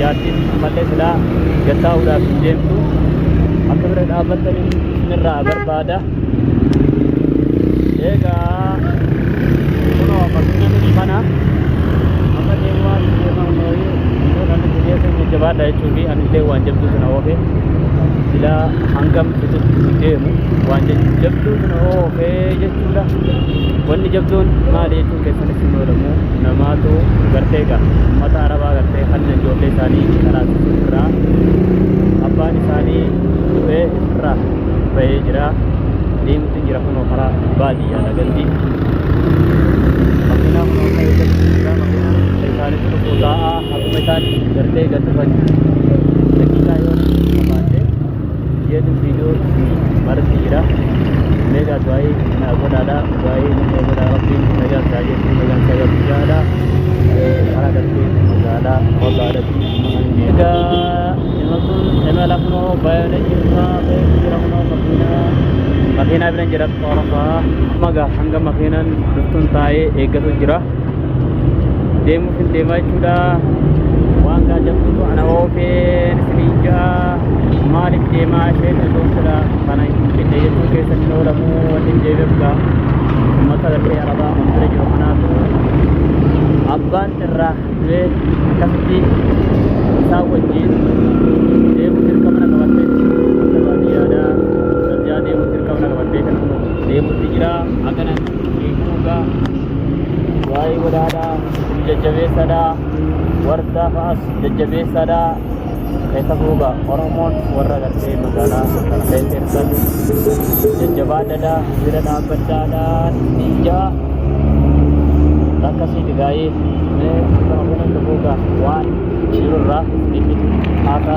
Jaartiin ammallee silaa gad taa'uudhaaf hin deemtu. Akka bira dhaabbattan irraa barbaada. Egaa kunoo fakkeenya nuti kana amma deemaa deemaa nooyii iddoo kan nuti geessan jajjabaadha jechuu fi ani illee waan jabduu sana oofe silaa hangam itti deemu waan jabduu sana oofe jechuudha. Wanni jabduun maali jechuudha? keessanitti hin oolamu namaatu gartee egaa ummata arabaa gartee hanna ijoollee isaanii karaa irraa abbaan isaanii du'ee irraa bahee jira deemutti jira kunoo karaa baadiyyaa lagatti makiinaa kunoo akka eeggatti jira makiinaa isaanii tokko taa'aa akkuma isaan gartee gad dhufan daqiiqaa yoo qabaate jedhu viidiyoo marti jira meegaa du'aa'ii naa godhaadha du'aa'ii nama godhaa rabbiin nagaa isaa geessu nagaa isaa geessu jaadha karaa darbee magaalaa waggaadhatti egaa nama sun nama lafnoo baay'ee jirra jira kunoo makiinaa makiinaa biran jira qorasaa magaa hanga makiinaan dhuftuun taa'ee eeggatu jira deemuuf hin deemaa jechuudha waan gaa jabdutu ana oofeen isiniin ja'a maaliif deemaa isheen osoo sila kana hin finne jechuu keessatti hin oolamu wanni hin deebi'u gaa ummata lafee arabaa kan bira jiru kanaatu abbaan irraa du'ee akkasitti isaa wajjin deemuu dirqama na qabattee jirti baadiyyaadhaa baadiyyaa deemuu dirqama na qabattee kan deemuutti jira akkana Eeguudha. Waa'ee godhaadha. Isin jajjabeessadha. Wardaa fa'as jajjabeessadha. Keessa fuuga Oromoon warra gartee magaalaa Harargee keessan jajjabaadhadha. Bira dhaabbadhaadha. Ninja. Akka siiti gaa'ee. Mee akka makonan dhufuuga waan jirurraa itti haaka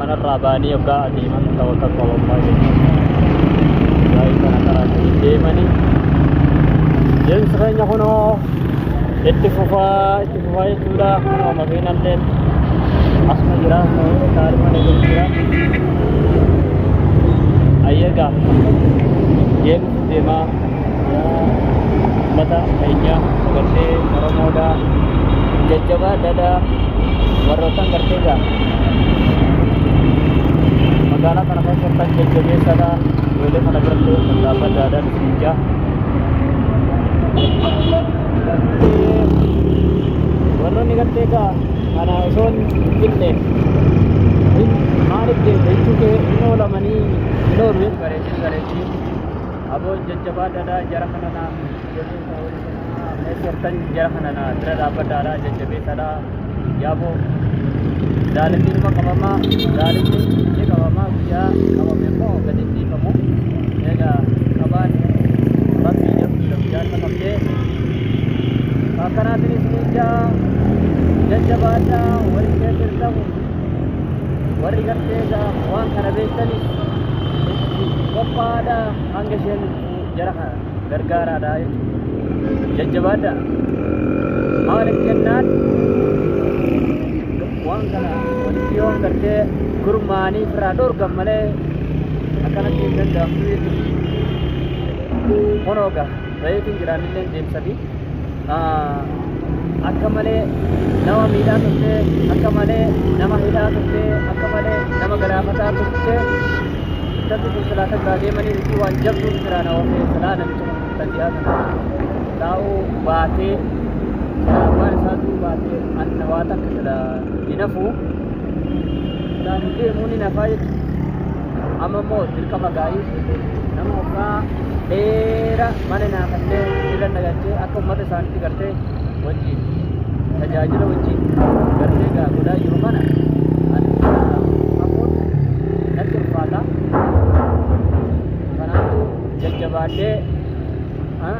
Manarraa ba'anii oggaa adeeman tawakkal qalallah jennaan waa'ee kana karaa sanii deemani deemsi keenya kunoo itti fufaa itti fufaa jechuudha kunoo makiinallee asuma jira taarimaan eegalu jira ayyagaa deemsi deemaa ummata keenya gartee oromoodha jajjabaa dada warroottan gartee gaa magaalaa kana keessattan jajjabeessadha ijoollee kana birallee mallaafaa daadaan isin jaa warroonni gartee gaa kana osoon hin binne maaliif deemte jechuu kee hin oolamanii hin oolu bareechuu bareechuu Aboo jajjabaadhaadhaa jara kana naa jajjabeessa warri kanaa mee turtan jara kana naa bira dhaabbadhaadhaa jajjabeessaadhaa yaaboo daalatti dhuma qabamaa daalatti ni qabamaa guyyaa qabame immoo gadi hin dhiifamu egaa qabaan rabbii jabduudha guyyaan qabamtee akkanaatiin isin ijaa jajjabaadhaa warri keessa hin ta'u warri gartee egaa waan kana beektani itti qophaa'aadha hanga isheen jara kana gargaaraadha jechuudha. jajjabaadha maaliif jennaan waan kana walitti yoon gartee gurmaa'anii firaa dhorgan malee akkanatti hin danda'amtu jechuudha. Kunoo gaa. Reefu hin jiraannillee deemsafi akka malee nama miidhaa turte akka malee nama hidhaa turte akka malee nama galaafataa turte sabbi kun silaa takkaa deemanii isii waan jabduun siraa na oofee silaa namicha kun kan dhiyaa kana taa'uu baatee silaa waan isaa tuu baatee anna waa takka silaa hin hafuu silaa hin deemuu ni nafaa jechuudha. Amma immoo dirqama gaa'ii nama waggaa dheera mana naafatee irra nagalchee akka uummata isaaniitti gartee wajjin tajaajila wajjin gartee gaa godhaa jiru kana ani hafuun natti ulfaata. Kanaafuu jajjabaadhee ah,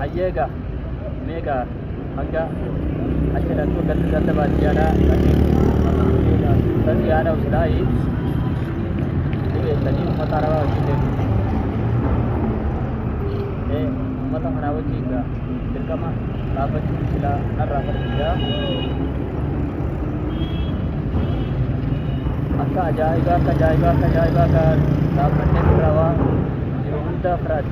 Hayyeega meeqa hanga achilatu galti ganda baadiyyaadhaa dhaqee galti haadha usilaayi ni beektanii ummata arabaa wajjin deemu. Ee ummata kanaa wajjin gaa dirqama dhaabbachuu silaa narraa barsiisaa. Akka ajaa'ibaa akka ajaa'ibaa akka ajaa'ibaa gaa dhaabbannee irraa waa jiru hundaa firaati.